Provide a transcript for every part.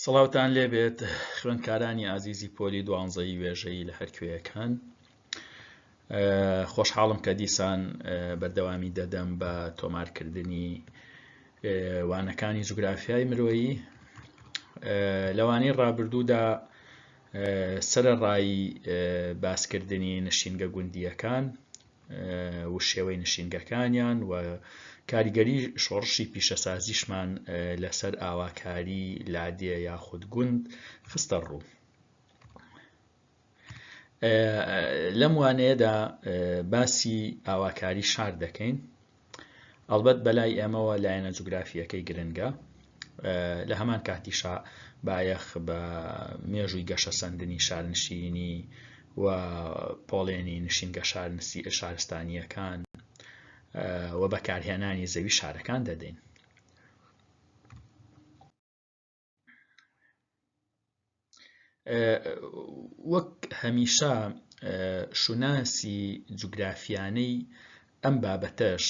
سڵاوتان لێبێت خوێندکارانی ئازیزی پۆلی دوانزەی وێژەی لە هەرکوێیەکان خۆشحاڵم کە دیسان بەردەوامی دەدەم بە تۆمارکردنی وانەکانی جوگرافیای مرۆیی لەوانەی ڕابردوودا سەرڕایی باسکردنی نشینگە گوندیەکان و شێوەی نشینگەکانیان و کاریگەری شۆڕشی پیشەسازیشمان لەسەر ئاواکاری لادێ یاخود گوند خستە ڕوو لەم وانەیەدا باسی ئاواکاری شار دەکەین ئەڵبەت بەلای ئێمەوە لایەنە جوگرافییەکەی گرنگە، لە هەمان کاتیشا بایەخ بە مێژووی گەشەسەندنی شارنشینی و پۆڵێنی نشینگە شارستانییەکان و بەکارهێنانی زەوی شارەکان دەدەین. وەک هەمیشە شوناسی جوگرافیانەی ئەم بابەتەش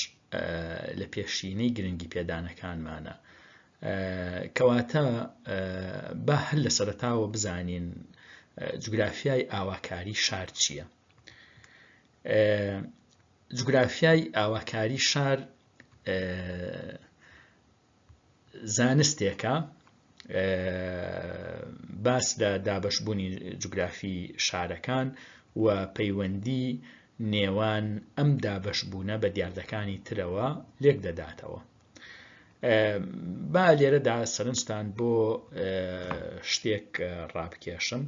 لە پێشینەی گرنگی پێدانەکانمانە کەواتە با هەر لە سەرتاوە بزانین جوگرافیای ئاواکاری شار چییە جوگرافیای ئاواکاری شار زانستێکە باس لە دابەشبوونی جوگرافی شارەکان و پەیوەندی نێوان ئەم دابەشبوونە بە دیاردەکانی ترەوە لێک دەداتەوە با لێرەدا سەرنجتان بۆ شتێک ڕابکێشم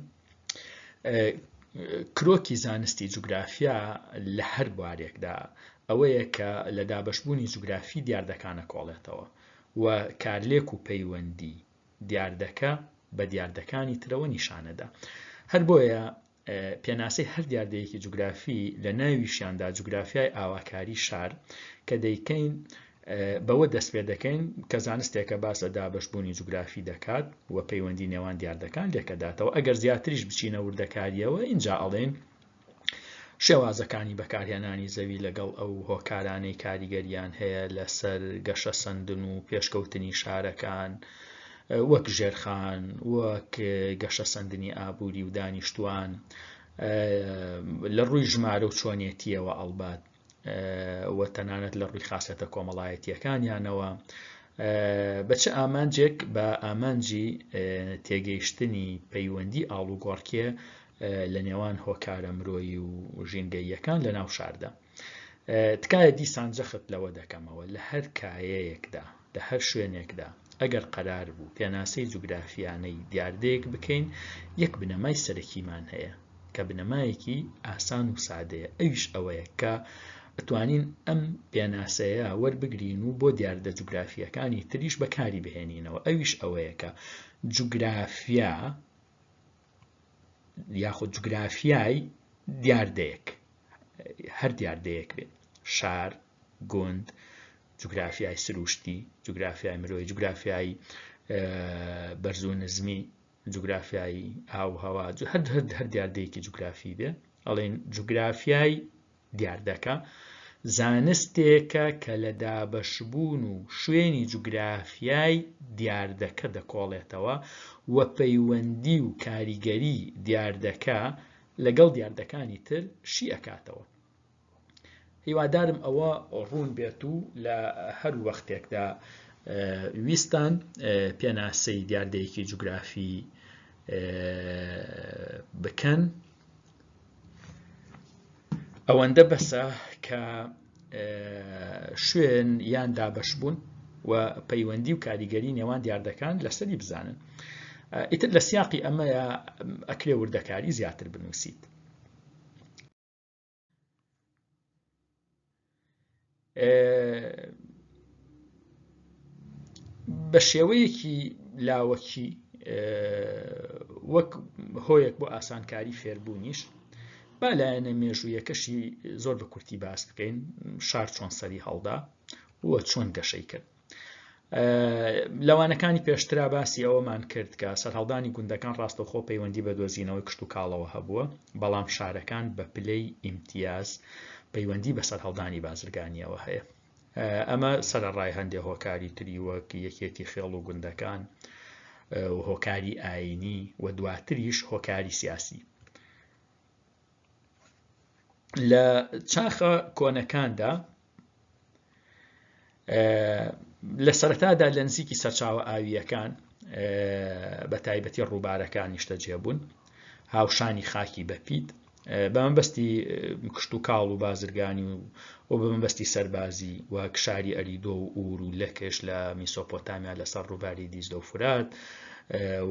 کرۆکی زانستی جوگرافیا لە هەر بوارێکدا ئەوەیە کە لە دابەشبوونی جوگرافی دیاردەکانە کۆڵێتەوە و کارلێک و پەیوەندی دیاردەکە بە دیاردەکانی ترەوە نیشانەدا هەر بۆیە پێناسەی هەر دیاردەیەکی جوگرافی لە ناویشیاندا جوگرافیای ئاواکاری شار کە دەیکەین بەوە دەستپێدەکەین کە زانستێکە باس لە دابەشبوونی جوگرافی دەکات و پەیوەندی نێوان دیاردەکان لێکەداتەوە ئەگەر زیاتریش بچینە وردەکاریەوە ئینجا ئەڵێن شێوازەکانی بەکارهێنانی زەوی لەگەڵ ئەو هۆکارانەی کاریگەریان هەیە لەسەر گەشە سندن و پێشکەوتنی شارەکان و وەک ژێرخان وەک گەشە سندنی ئابووری و دانیشتوان لە ڕووی ژمارە و چۆنیەتیەوە ئەڵبات و تەنانەت لە ڕووی خاصەتە کۆمەڵایەتیەکانیانەوە بە چ ئامانجێک بە ئامانجی تێگەیشتنی پەیوەندی ئاڵوگۆڕکێ لە نێوان هۆکارە مرۆیی و ژینگەییەکان لە ناو شاردا تکایە دیسان جەخت لەوە دەکەمەوە لە هەر کایەیەکدا لە هەر شوێنێکدا، ئەگەر قەرار بوو پێناسەی جوگرافیانەی دیاردەیەک بکەین، یەک بنەمای سەرەکیمان هەیە، کە بنەمایەکی ئاسان و سادەیە، ئەویش ئەوەیە کە ئەتوانین ئەم پێناسەیە وەربگرین و بۆ دیاردە جوگرافییەکانی تریش بەکاری بهێنینەوە، ئەویش ئەوەیە کە جوگرافیا یاخود جوگرافیای دیاردەیەک، هەر دیاردەیەک بێت، شار، گوند، جوگرافیای سرووشتی، جوگرافیای مرۆیی، جوگرافیای بەرز و نزمی، جوگرافیای ئاو و هەوا، هەر دیاردەیەکی جوگرافی بێ ئەڵێن جوگرافیای دیاردەکە زانستێکە کە لە دابەشبوون و شوێنی جوگرافیای دیاردەکە دەکۆڵێتەوە و پەیوەندی و کاریگەری دیاردەکە لەگەڵ دیاردەکانی تر شی ئەکاتەوە. هیوادارم ئەوە ڕوون بێت و لە هەر وەختێکدا ویستان پێناسەی دیاردەیەکی جوگرافی بکەن ئەوەندە بەسە کە شوێن یان دابش بوون و پەیوەندی و کاریگەری نێوان دیاردەکان لەسەری بزانن ئیتر لە سیاقی ئەمەیە ئەکرێ وردەکاری زیاتر بنووسیت بە شێوەیەکی لاوەکی وەک هۆیەک بۆ ئاسانکاری فێربوونیش با لایەنە مێژوویەکەشی زۆر بە کورتی باس بکەین شار چۆن سەری هەڵدا وە چۆن گەشەی کرد لە وانەکانی پێشترا باسی ئەوەمان کرد کە سەرهەڵدانی گوندەکان ڕاستەخۆ پەیوەندی بە دۆزینەوەی کشت و کاڵەوە هەبووە بەڵام شارەکان بە پلەی ئیمتیاز پەیوەندی بە سەرهەڵدانی بازرگانیەوە هەیە ئەمە سەرڕای هەندێ هۆکاری تری وەک یەکێتی خێڵ و گوندەکان و هۆکاری ئاینی و دواتریش هۆکاری سیاسی لە چاخە کۆنەکاندا لە سەرەتادا لە نزیکی سەرچاوە ئاوییەکان بە تایبەتی ڕووبارەکان نیشتەجێ بوون هاوشانی خاکی بەپیت بە مەبەستی کشت و کاڵ و بازرگانی و و بە مەبەستی سەربازی و کشاری ئەریدۆ و ئور و لەکش لە میسۆپۆتامیا لەسەر ڕووباری دیزدە و فرات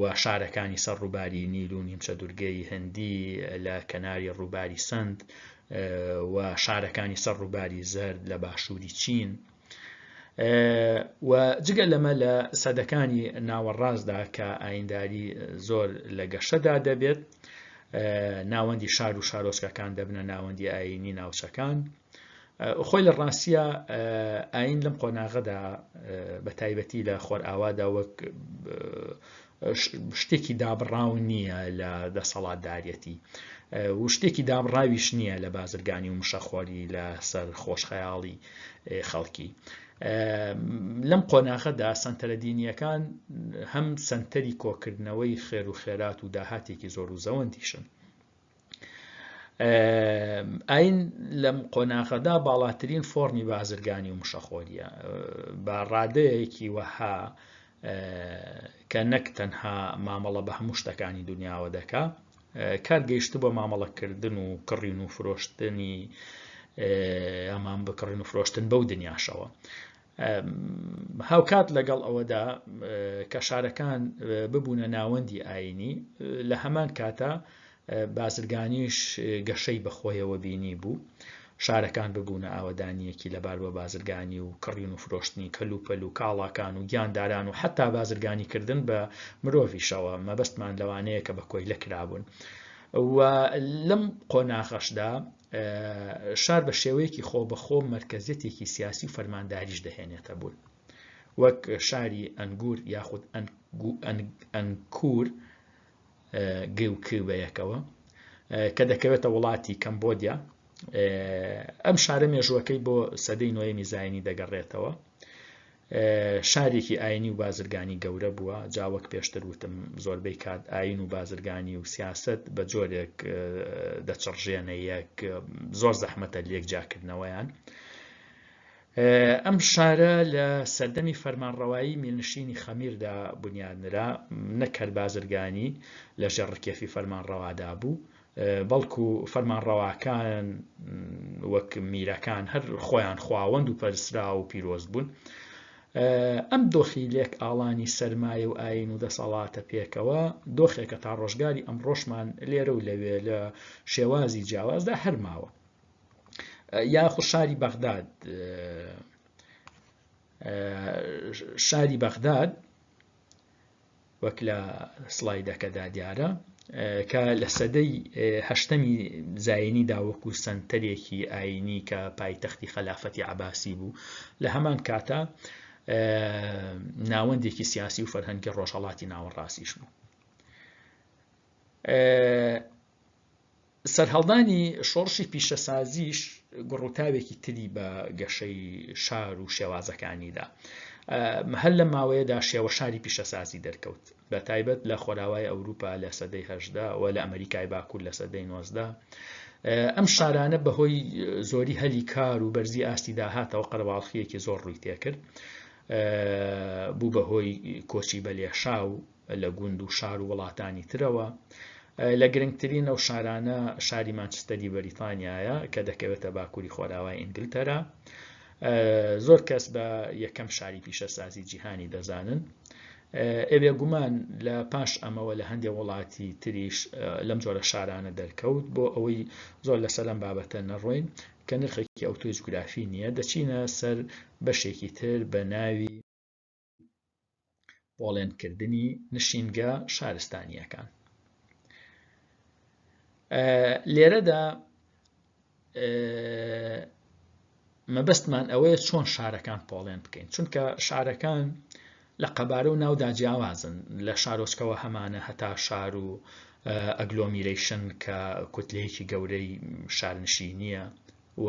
و شارەکانی سەر ڕووباری نیل و نیمچە دورگەی هەندی لە کەناری ڕووباری سند و شارەکانی سەر ڕووباری زەرد لە باشووری چین و جگە لەمە لە سەدەکانی ناوەڕاستدا کە ئاینداری زۆر لە گەشەدا دەبێت ناوەندی شار و شارۆچکەکان دەبنە ناوەندی ئاینی ناوچەکان خۆی لە ڕاستە ئاین لەم قۆناغەدا بە تایبەتی لە خۆرئاوادا وەک شتێکی دابڕاو نییە لە دەسەڵاتداریەتی و شتێکی دابڕاویش نییە لە بازرگانی و مشەخۆری لە سەر خۆشخەیاڵی خەڵکی لەم قۆناغەدا سنتەرە دینیەکان هەم سنتەری کۆکردنەوەی خێر و خێرات و داهاتێکی زۆر و زەوەندیشن ئاین لەم قۆناغەدا باڵاترین فۆرمی بازرگانی و مشەخۆریە بە ڕادەیەکی وەها کە نەک تەنها مامەڵە بە هەموو شتەکانی دنیاوە دەکا کار گەیشت بۆ مامەڵەکردن و کڕین و فرۆشتنی ئەمان بکڕین و فرۆشتن بەو دنیاشەوە هاوکات لەگەڵ ئەوەدا کە شارەکان ببوونە ناوەندی ئاینی لە هەمان کاتە بازرگانیش گەشەی بەخۆیەوە بینی بوو شارەکان ببوونە ئاوەدانیەکی لەبار بە بازرگانی و کڕین و فرۆشتنی کەلوپەل و کاڵاکان و گیانداران و حتا بازرگانی کردن بە مرۆڤیشەوە مەبەستمان لەوانەیە کە بە کۆیلە کرابوون و لەم قۆناغەشدا شار بە شێوەیەکی خۆ بەخۆ مرکزیەتێکی سیاسی و فەرمانداریش دەهێنێتە بوون وەک شاری ئەنگور یاخود ئەنکور گوکی بەیەکەوە کە دەکەوێتە وڵاتی کەمبۆدیا ئەم شارە مێژووەکەی بۆ سەدەی نوێمی زایانی دەگەڕێتەوە شارێکی ئاینی و بازرگانی گەورە بووە جا وەک پێشتر وتم زۆربەی کات ئاین و بازرگانی و سیاست بە جۆرێک دەچڕژێنە یەک زۆر زەحمەتە لێک جاکردنەوەیان. ئەم شارە لە سەردەمی فەرمانڕەوایی میلنشینی خەمیردا بنیادنرا نەکرد بازرگانی لە ژێڕکێفی فەرمانڕەوادا بوو بەڵکو فەرمانڕەواکان وەک میرەکان هەر خۆیان خواوەند و پەرسرا و پیرۆز بوون ئەم دۆخی لێک ئاڵانی سەرمایە و ئاین و دەسەڵاتە پێکەوە دۆخێکە تا ڕۆژگاری ئەم ڕۆژمان لێرە و لەوێ لە شێوازی جیاوازدا هەرماوە یاخو شاری بەغداد شاری بەغداد وەک لە سڵایدەکەدا دیارە کە لە سەدەی هەشتەمی زایینیدا وەکو سەنتەرێکی ئاینی کە پایتەختی خەلافەتی عباسی بوو لە هەمان کاتە ناوەندێکی سیاسی و فەرهەنگی ڕۆژهڵاتی ناوەڕاستیش بوو سەرهەڵدانی شۆڕشی پیشەسازیش گوڕوتاوێکی تری بە گەشەی شار و شێوازەکانیدا. هەر لەم ماوەیەدا شێوە شاری پیشەسازی دەرکەوت بە تایبەت لە خۆراوای ئەوروپا لە سەدەی هەشدا و لە ئەمریکای باکوور لە سەدەی نۆزدە ئەم شارانە بەهۆی زۆری هەلی کار و بەرزی ئاستی داهاتەوە قەرەباڵخیەکی زۆر ڕووی تێکرد بوو بەهۆی کۆچی بەلێشا و لە گوند و شار و وڵاتانی ترەوە، لە گرنگترین ئەو شارانە شاری مانچستەری بەریتانیایە کە دەکەوێتە باکووری خۆراوای ئینگلتەرا. زۆر کەس بە یەکەم شاری پیشەسازی جیهانی دەزانن. ئەوێ گومان لە پاش ئەمەوە لە هەندێک وڵاتی تریش لەم جۆرە شارانە دەرکەوت بۆ ئەوەی زۆر لەسەر لەم بابەتە نەڕۆین کە نرخێکی ئەوتۆی جوگرافی نییە دەچینە سەر بەشێکی تر بە ناوی بۆڵێنکردنی نشینگە شارستانیەکان لێرەدا مەبەستمان ئەوەیە چۆن شارەکان پۆڵێن بکەین چونکە شارەکان لە قەبارە و ناودا جیاوازن لە شارۆچکەوە هەمانە هەتا شار و ئەگلۆمیرەیشن کە کوتلەیەکی گەورەی شارنشینیە و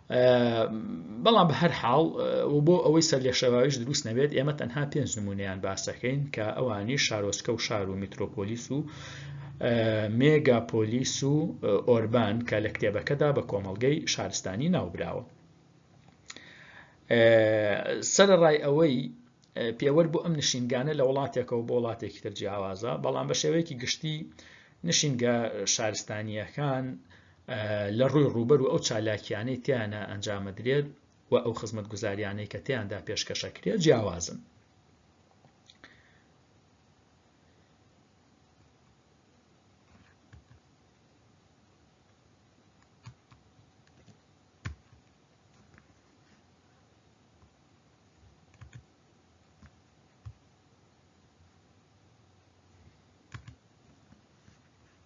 بەڵام بە هەر حاڵ و بۆ ئەوەی سەر لە شێواویش دروست نەبێت ئێمە تەنها پێنج نمونیان باسەکەین کە ئەوانی شارۆچکە و شار و میترۆپۆلیس و مێگاپۆلیس و ئۆربان کە لە کتێبەکەدا بە کۆمەڵگەی شارستانی ناوبراوە سەرڕای ئەوەی پێوەەر بۆ ئەم نشینگانە لە وڵاتێکەوە بۆ وڵاتێکی تر جیاوازە بەڵام بە شێوەیەکی گشتی نشینگە شارستانیەکان لە ڕووی ڕووبەر و ئەو چالاکیانەی تیانە ئەنجامەدرێت و ئەو خزمەت گوزاریانەی کە تیاندا پێشکەشەکرێت جیاوازن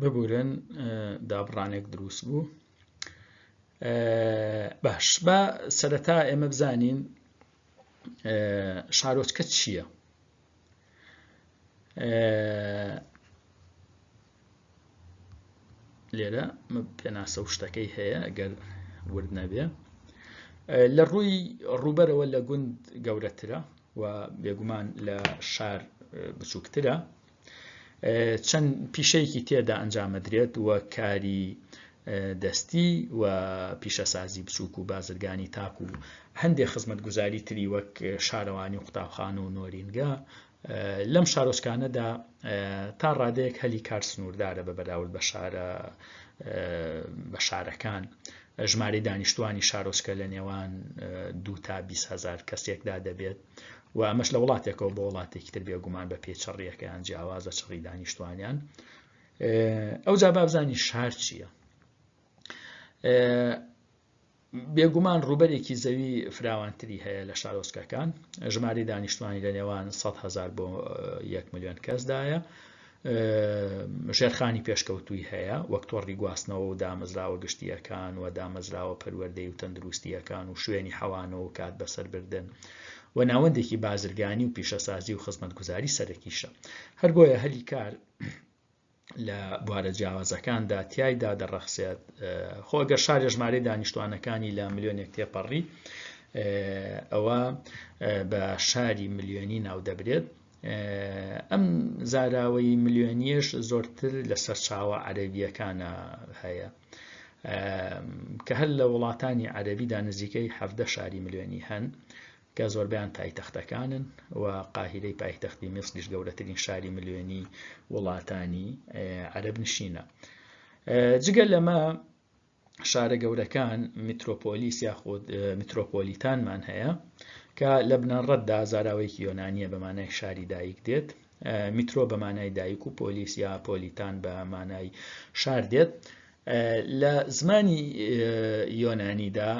ببورن دابڕانێک دروست بوو باش بە سەرەتا ئێمە بزانین شارۆچکە چییە؟ لێرە پێناسە و شتەکەی هەیە گەر ورد نەبێ لە ڕووی ڕووبەرەوە لە گوند گەورەترە و بێگومان لە شار بچووکترە چەند پیشەیەکی تێدا ئەنجامەدرێت و کاری دەستی و پیشەسازی بچووک و بازرگانی تاک و هەندێک خزمەت گوزاری تری وەک شارەوانی و قوتابخان و نۆرینگە لەم شارۆچکانەدا تا ڕادەیەک هەلی کار سنووردارە بە بەراورد بە شارە بە شارەکان ژمارەی دانیشتوانی شارۆچکە لە نێوان دو تا 20هزار کەسێکدا دەبێت و ئەمەش لە وڵاتێکەوە بۆ وڵاتێکی تر بێگومان بە پێ چڕیەکەیان جیاوازە چڕی دانیشتوانیان ئەو جا بابزانانی شار چییە؟ بێگومان ڕووبەرێکی زەوی فراوانتری هەیە لە شارۆچکەکان ژماری دانیشتوانی لە نێوان 100 هزار بۆ 1 میلیۆن کەسدایە ژێرخانی پێشکەوتووی هەیە وەک تۆڕی گواستنەوە و دامەزراوە گشتیەکان و دامەزراوە پەروەردەی و تەندروستیەکان و شوێنی حەوانەوە و کات بەسەربردن و ناوەندێکی بازرگانی و پیشەسازی و خزمەتگوزاری سەرەکیشە هەربۆیە هەلی کار لە بوارە جیاوازەکاندا تایدا دەڕەخسێت خۆ گەر شارێ ژمارەی دانیشتوانەکانی لە ملیۆنێک تێپەڕی ئەوە بە شاری ملیۆنی ناو دەبرێت ئەم زاراوەی ملیۆنیش زۆرتر لە سەرچاوە عەربیەکانە هەیە کە هەر لە وڵاتانی عەربیدا نزیکەی حەفدە شاری ملیۆنی هەن کە زۆربەیان پایتەختەکانن و قاهیرەی پایتەختی میسریش گەورەترین شاری ملیۆنی وڵاتانی عەرەب نشینە جگە لەمە شارە گەورەکان میترۆپۆلیس یاخود میترۆپۆلیتانمان هەیە کە لە بنەڕەتدا زاراوەیەکی یۆنانیە بەمانای شاری دایک دێت میترۆ بەمانای دایک و پۆلیس یا پۆلیتان بە مانای شار دێت لە زمانی یۆنانیدا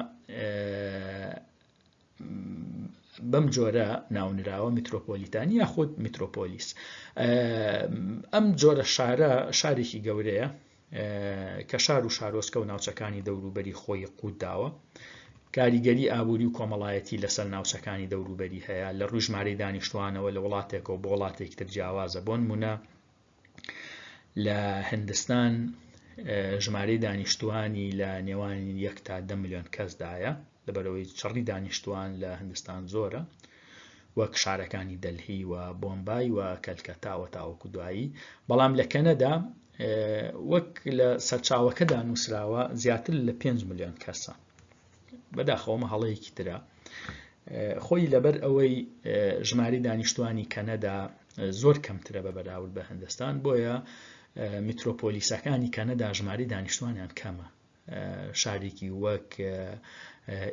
بەم جۆرە ناونراوە میترۆپۆلیتانی یاخود میترۆپۆلیس ئەم جۆرە شارە شارێکی گەورەیە کە شار و شارۆسکە و ناوچەکانی دەوروبەری خۆی قوت داوە کاریگەری ئابووری و کۆمەڵایەتی لەسەر ناوچەکانی دەوروبەری هەیە لە ڕژمارەی دانیشتوانەوە لە وڵاتێکەوە بۆ وڵاتێکتر جیاوازە بۆن مونە لە هندستان ژمارەی دانیشتوانی لە نێوان یەک تا دە میلیۆن کەسدایە لەبەرەوەی چڕی دانیشتوان لە هندستان زۆرە وەک شارەکانی دەلهی و بۆمبای و کەلکەتاوە تاوەکو دوایی بەڵام لە کەنەدا وەک لە سەرچاوەکەدا نووسراوە زیاتر لە 5 میلیۆن کەسە بەداخەوەمە هەڵەیەکی ترە خۆی لەبەر ئەوەی ژماری دانیشتوانی کەنەدا زۆر کەمترە بە بەراورد بە هەندستان بۆیە میترۆپۆلیسەکانی کەنەدا ژماری دانیشتوانیان کەمە شارێکی وەک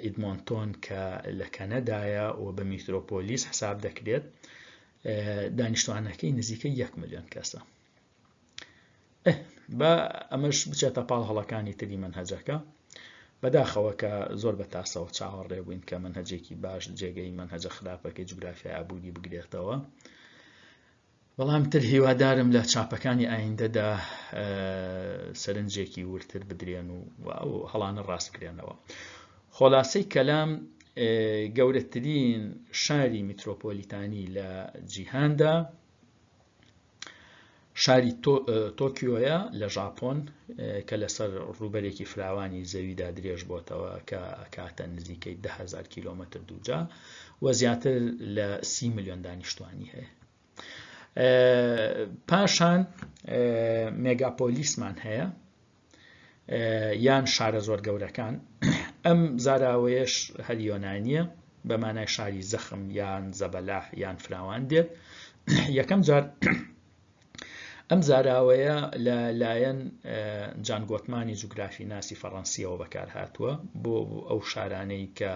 ئیدمۆنتۆن کە لە کەنەدایە و بە میترۆپۆلیس حساب دەکرێت دانیشتوانەکەی نزیکە یەک میلیۆن کەسە با ئەمەش بچێتە پاڵ هەڵەکانی تری منهجەکە بەداخەوە کە زۆر بە تاسەوە چاوەڕێ بووین کە منهجێکی باش جێگەی منهجە خراپەکەی جوگرافیا ئابووری بگرێتەوە بەڵام تر هیوادارم لە چاپەکانی ئایندەدا سەرنجێکی ورتر بدرێن و ئەو هەڵانە ڕاست بکرێنەوە خۆلاسی کەلام گەورەترین شاری میترۆپۆلیتانی لە جیهاندا شاری تۆکیۆیە لە ژاپۆن کە لەسەر ڕووبەرێکی فراوانی زەویدا درێژ بۆتەوە کە کاتە نزیکەی دههزار کیلومتر دووجا و زیاتر لە سی میلیۆن دانیشتوانی هەیە پاشان مێگاپۆلیسمان هەیە یان شارە زۆر گەورەکان ئەم زاراوەیەش هەر یۆنانیە بە مانای شاری زەخم یان زەبەلاح یان فراوان دێت یەکەم جار ئەم زاراوەیە لە لایەن جانگۆتمانی جوگرافی ناسی فەڕەنسیەوە بەکار هاتووە بۆ ئەو شارانەی کە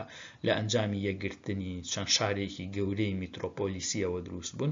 لە ئەنجامی یەکگرتنی چەند شارێکی گەورەی میترۆپۆلیسیەوە دروست بوون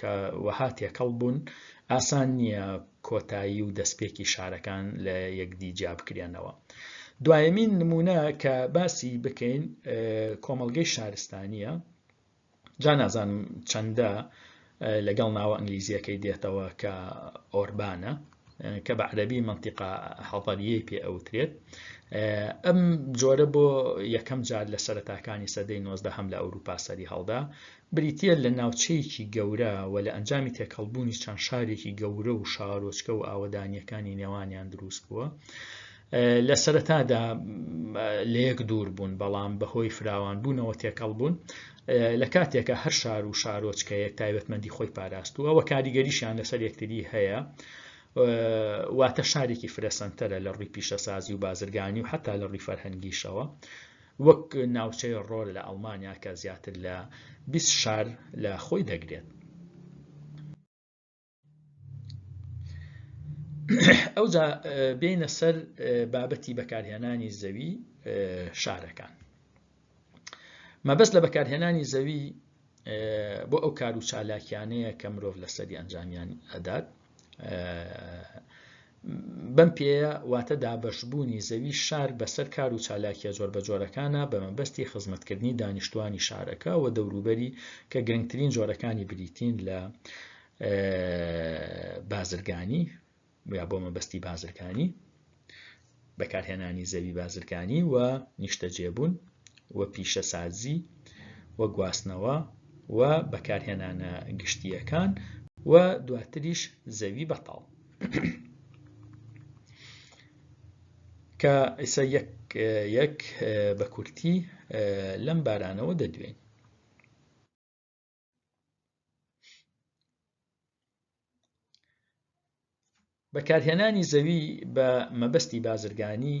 کە وەها تێکەڵ بوون، ئاسان نییە کۆتایی و دەستپێکی شارەکان لە یەکدی جیا بکرێنەوە. دوایەمین نمونە کە باسی بکەین کۆمەڵگەی شارستانیە جا نازانم چەندە لەگەڵ ناوە ئەنگلیزیەکەی دێتەوە کە ئۆربانە کە بە عەرەبی منطقە حەضەریەی پێ ئەوترێت ئەم جۆرە بۆ یەکەم جار لە سەرەتاکانی سەدەی نۆزدە هەم لە ئەوروپا سەری هەڵدا بریتە لە ناوچەیەکی گەورە و لە ئەنجامی تێکەڵبوونی چەند شارێکی گەورە و شارۆچکە و ئاوەدانیەکانی نێوانیان دروست بووە لە سەرەتادا لە یەک دوور بوون بەڵام بەهۆی فراوان بوونەوە تێکەڵ بوون لە کاتێکە هەر شار و شارۆچکەیەک تایبەتمەندی خۆی پاراستووە و کاریگەریشیان لەسەر یەکتری هەیە واتە شارێکی فرەسەنتەرە لە ڕووی پیشەسازی و بازرگانی و حتا لە ڕووی فەرهەنگیشەوە وەک ناوچەی ڕۆل لە ئەڵمانیا کە زیاتر لە 20 شار لە خۆی دەگرێت ئەوجا بینە سەر بابەتی بەکارهێنانی زەوی شارەکان مەبەست لە بەکارهێنانی زەوی بۆ ئەو کار و چالاکیانەیە کە مرۆڤ لەسەری ئەنجامیان ئەدات بەم پێیە واتە دابەشبوونی زەوی شار بەسەر کار و چالاکییە جۆربەجۆرەکانا بە مەبەستی خزمەتکردنی دانیشتووانی شارەکە و دەوروبەری کە گرنگترین جۆرەکانی بریتین لە بازرگانی یا بۆ مەبەستی بازرگانی. بەکارهێنانی زەوی بازرگانی و نیشتەجێبوون و پیشەسازی و گواستنەوە و بەکارهێنانە گشتییەکان و دواتریش زەوی بەتاڵ. کە ئیسە یەک یەک بە کورتی لەم بارانەوە دەدوێن. بەکارهێنانی زەوی بە مەبەستی بازرگانی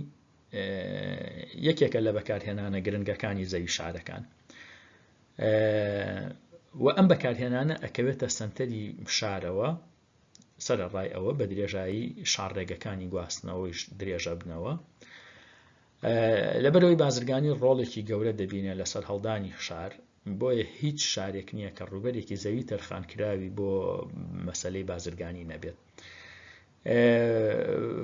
یەکێکە لە بەکارهێنانە گرنگەکانی زەوی شارەکان و ئەم بەکارهێنانە ئەکەوێتە سنتەری شارەوە سرە ڕای ئەوە بە درێژایی شارڕێگەکانی گواستنەوەیش درێژە بنەوە لەبەرەوەی بازرگانی ڕۆڵێکی گەورە دەبینێت لەسەر هەڵدانی شار بۆیە هیچ شارێک نییە کە ڕووبەرێکی زەوی تەرخانکراوی بۆ مەسلەی بازرگانی نەبێت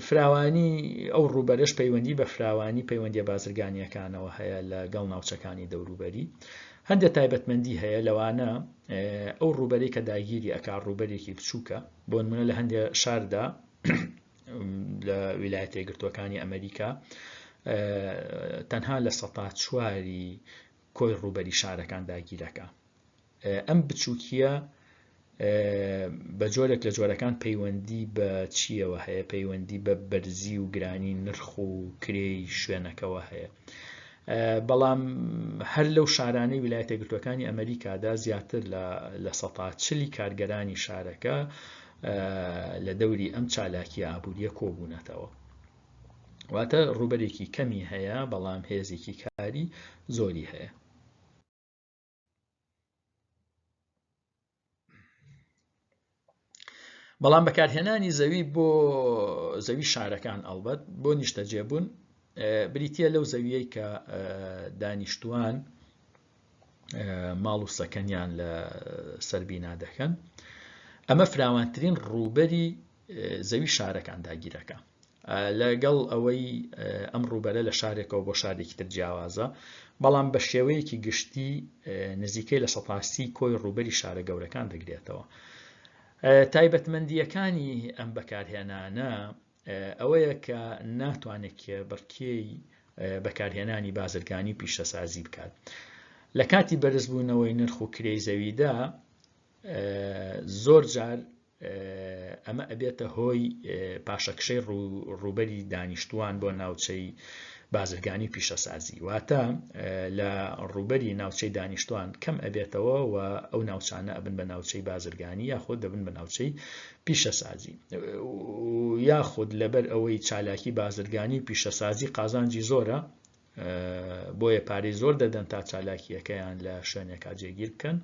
فراوانی ئەو ڕووبەرش پەیوەندی بە فراوانی پەیوەندی بازرگانیەکانەوە هەیە لە گەڵ ناوچەکانی دەوروبەری هەندێ تایبەتمەندی هەیە لەوانە ئەو ڕووبەری کە داگیری ئەک ڕووبەرێکی بچووکە بۆ منە لە هەندێ شاردا لە ویلایەتە گرتوەکانی ئەمریکا تەنها لە سەتا چواری کۆی ڕووبەری شارەکان داگیرەکە ئەم بچووکیە بە جۆرێک لە جۆرەکان پەیوەندی بە چیەوە هەیە پەیوەندی بە بەرزی و گرانی نرخ و کرێی شوێنەکەەوە هەیە بەڵام هەر لەو شارانەی ویلایەتە گرتوەکانی ئەمریکادا زیاتر لە سەتا چلی کارگەرانی شارەکە لە دەوری ئەم چالاکی ئابوووریە کۆبوونەتەوە واتە ڕووبەرێکی کەمی هەیە بەڵام هێزێکی کاری زۆری هەیە بەڵام بەکارهێنانی زەوی بۆ زەوی شارەکان ئەڵبەت بۆ نیشتەجێبوون بریتە لەو زەویەی کە دانیشتوان ماڵ و سەکەنیان لە سەربینا دەکەن ئەمە فراوانترین ڕووبەری زەوی شارەکان داگیرەکە لەگەڵ ئەوەی ئەم ڕووبەرە لە شارێکەوە بۆ شارێکی تر جیاوازە بەڵام بە شێوەیەکی گشتی نزیکەی لە سەپاسی کۆی ڕووبەری شارە گەورەکان دەگرێتەوە تایبەتمەندیەکانی ئەم بەکارهێنانە ئەوەیە کە ناتوانێت کێبڕکێی بەکارهێنانی بازرگانی و پیشەسازی بکات لە کاتی بەرزبوونەوەی نرخ و کرێی زەویدا زۆر جار ئەمە ئەبێتە هۆی پاشەکشەی ڕووبەری دانیشتوان بۆ ناوچەی بازرگانی پیشەسازی واتە لە ڕووبەری ناوچەی دانیشتوان کەم ئەبێتەوە و ئەو ناوچانە ئەبن بە ناوچەی بازرگانی یاخۆ دەبن بە ناوچەی پیشەسازی و یاخود لەبەر ئەوەی چالاکی بازرگانی و پیشەسازی قازانجی زۆرە بۆیە پارەی زۆر دەدەن تا چالاکیەکەیان لە شوێنێکا جێگیر بکەن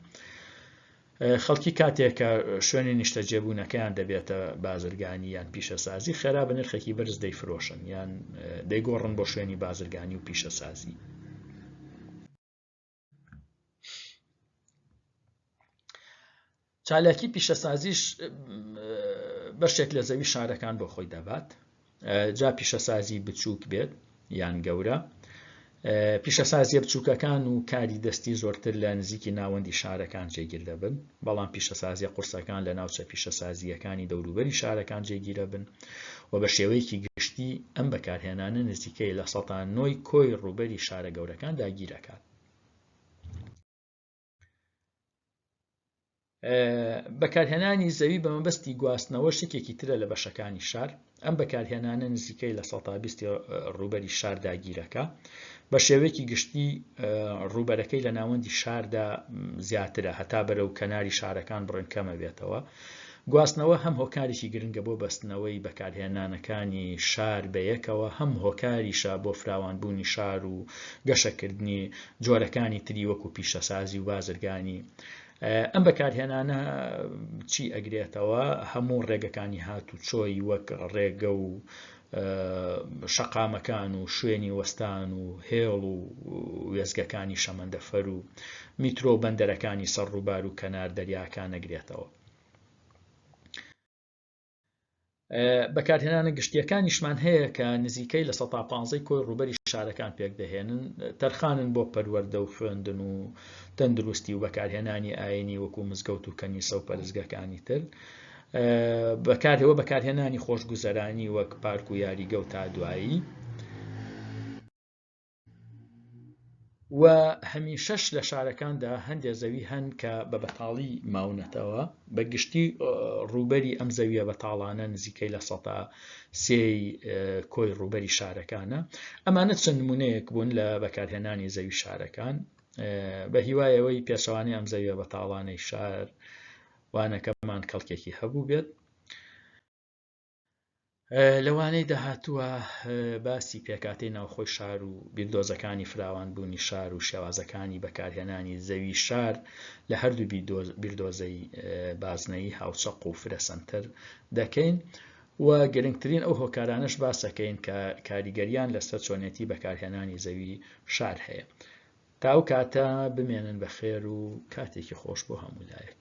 خەڵکی کاتێکە شوێنی نیشتەجێبوونەکەیان دەبێتە بازرگانی یان پیشەسازی خێرا بە نرخێکی بەرز دەیفرۆشن یان دەیگۆڕن بۆ شوێنی بازرگانی و پیشەسازی چالاکی پیشەسازیش بەشێک لە زەوی شارەکان بۆ خۆی دەبات جا پیشەسازی بچووک بێت یان گەورە پیشەسازیە بچووکەکان و کاری دەستی زۆرتر لە نزیکی ناوەندی شارەکان جێگیر دەبن بەڵام پیشەسازییە قورسەکان لە ناوچە پیشەسازییەکانی دەوروبەری شارەکان جێگیرەبن و بە شێوەیەکی گشتی ئەم بەکارهێنانە نزیکەی لە سەتا نۆی کۆی ڕووبەری شارە گەورەکان داگیرەکات. بەکارهێنانی زەوی بە مەبەستی گواستنەوە شتێکی ترە لە بەشەکانی شار، ئەم بەکارهێنانە نزیکەی لە سەتا بیستی ڕووبەری شار داگیرەکە بە شێوەیەکی گشتی ڕووبەرەکەی لە ناوەندی شاردا زیاترە هەتا بەرە و کەناری شارەکان بڕن کەمە بێتەوە گواستنەوە هەم هۆکارێکی گرنگە بۆ بەستنەوەی بەکارهێنانەکانی شار بەیەکەوە هەم هۆکاریشە بۆ فراوانبوونی شار و گەشەکردنی جۆرەکانی تری وەکو پیشەسازی و بازرگانی ئەم بەکارهێنانە چی ئەگرێتەوە هەموو ڕێگەکانی هات و چۆی وەک ڕێگە و شەقامەکان و شوێنی وەستان و هێڵ و وێزگەکانی شەمەندەفەر و میترۆ بەندەرەکانی سەر ڕووبار و کەنار دەریاکان نەگرێتەوە بەکارهێنانە گشتییەکانیشمان هەیە کە نزیکەی لە سەتا پانزەی کۆی ڕوبەری شارەکان پێکدەهێنن تەرخانن بۆ پەروەەردە و خوێندن و تەندروستی و بەکارهێنانی ئاینی وەکو مزگەوت و کەنیسە و پەرزگەکانی تر بەکارەوە بەکارهێنانی خۆشگوزەرانی وەک پارک و یاریگە و تا دوایی و هەمیشەش لە شارەکاندا هەندێک زەوی هەن کە بە بەتاڵی ماونەتەوە بە گشتی ڕووبەری ئەم زەویە بەتاڵانە نزیکەی لە سەتا سێی کۆی ڕووبەری شارەکانە ئەمانە چەند نمونەیەک بوون لە بەکارهێنانی زەوی شارەکان بە هیوایەوەی پێچوانی ئەم زەویە بەتاڵانەی شار وانەکەمان کەڵکێکی هەبوو بێت لەوانەی داهاتووە باسی پێکاتەی ناوخۆی شار و بیردۆزەکانی فراوانبوونی شار و شێوازەکانی بەکارهێنانی زەوی شار لە هەردوو بیردۆزەی بازنەیی هاوچەق و فرە سەنتەر دەکەین و گرنگترین ئەو هۆکارانەش باسەکەین کە کاریگەریان لەسەر چۆنێتی بەکارهێنانی زەوی شار هەیە تا ئەو کاتە بمێنن بە خێر و کاتێکی خۆش بۆ هەموو لایەک